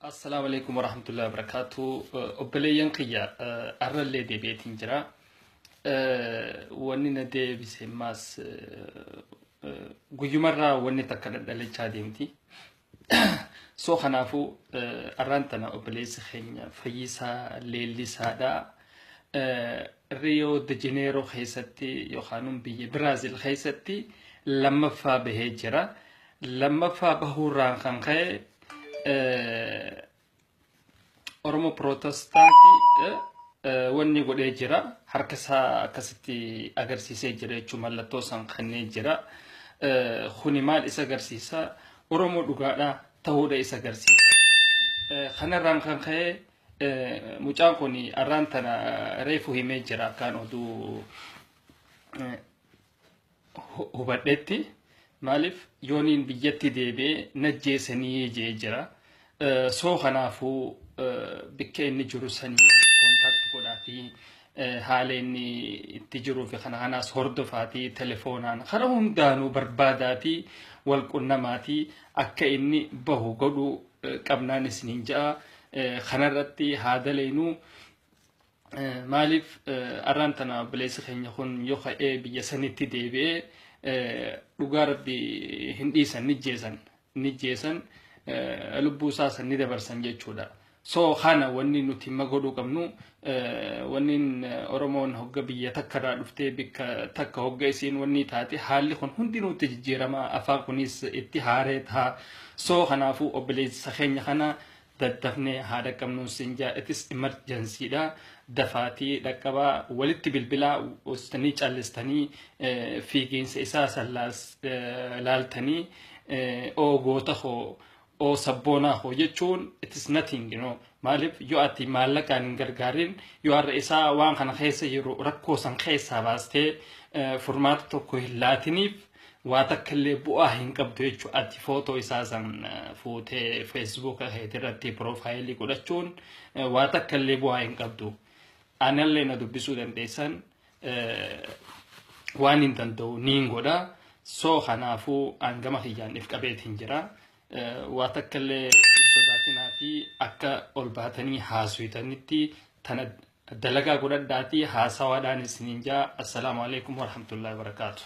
Assalaamu alaikum warahmatullahi wabarakatuh. Obboleeyyan kiyya arrallee deebi'eetiin jira. Wanni na deebise maas guyyumarraa wanni takka dhadhalachaa deemti. So kanaafuu arraan tana obboleessi keenya fayyisaa leellisaadha. Riyoo de Janeeroo keessatti yookaan biyya Biraazil keessatti lammaffaa bahee jira. lammaffaa bahuurraan kan ka'e Oromoo Pirootestaantii wanni godhee jira. Harka isaa akkasitti agarsiisee jira jechuun mallattoo isaan kennee jira. Kuni maal isa agarsiisa? Oromoo dhugaadha ta'uudha isa agarsiisa. Kanarraan kan ka'e mucaan kun arraan tana reefu himee jira akkaan oduu hubadhetti maaliif yooniin biyyatti deebi'ee najjeese ni jee jira soo kanaafuu bikka inni jiru sanii kontaakti godhaatii haala inni itti jiruu fi kana kanaas hordofaatii telefoonaan kara hundaanuu barbaadaatii wal qunnamaatii akka inni bahu godhuu qabnaan isiniin ja'a kanarratti haa daleenuu Maaliif arraan tana obboleessi keenya kun yoo ka'ee biyya sanitti deebi'ee dhugaa rabbi hin dhiisan ni jeesan ni jeesan lubbuu isaa san ni dabarsan jechuudha. So kana wanni nuti ma godhuu qabnu wanni Oromoon hogga biyya takka irraa dhuftee bikka takka hogga isiin wanni taate haalli kun hundi nutti jijjiirama afaan kunis itti haaree taha. So kanaafuu obboleessa keenya kana daddafnee haa dhaqqabnuun sin jaa itis imarjansiidha dafaatii dhaqqabaa walitti bilbilaa ostanii callistanii fiigiinsa isaa san laaltanii oo goota koo oo sabboonaa koo jechuun itis nothing you know maaliif yoo ati maallaqaan hin gargaarin yoo har'a isaa waan kana keessa jiru rakkoo san keessaa baastee furmaata tokko hin laatiniif waa takka illee bu'aa hin qabdu jechuudha. Ati footoo isaa san fuutee feesbuuka keetii irratti piroofaayilii godhachuun waa takka illee bu'aa hin qabdu. Anallee na dubbisuu dandeessan waan hin danda'u niin godha. Soo kanaafuu hangama kiyyaan if qabeetiin jira. Waa takka illee sodaatinaa fi akka ol baatanii haasuytanitti tana dalagaa godhadhaatii haasawaadhaan isiniin jaa. Assalaamu alaikum warahmatullahi wabarakaatuh.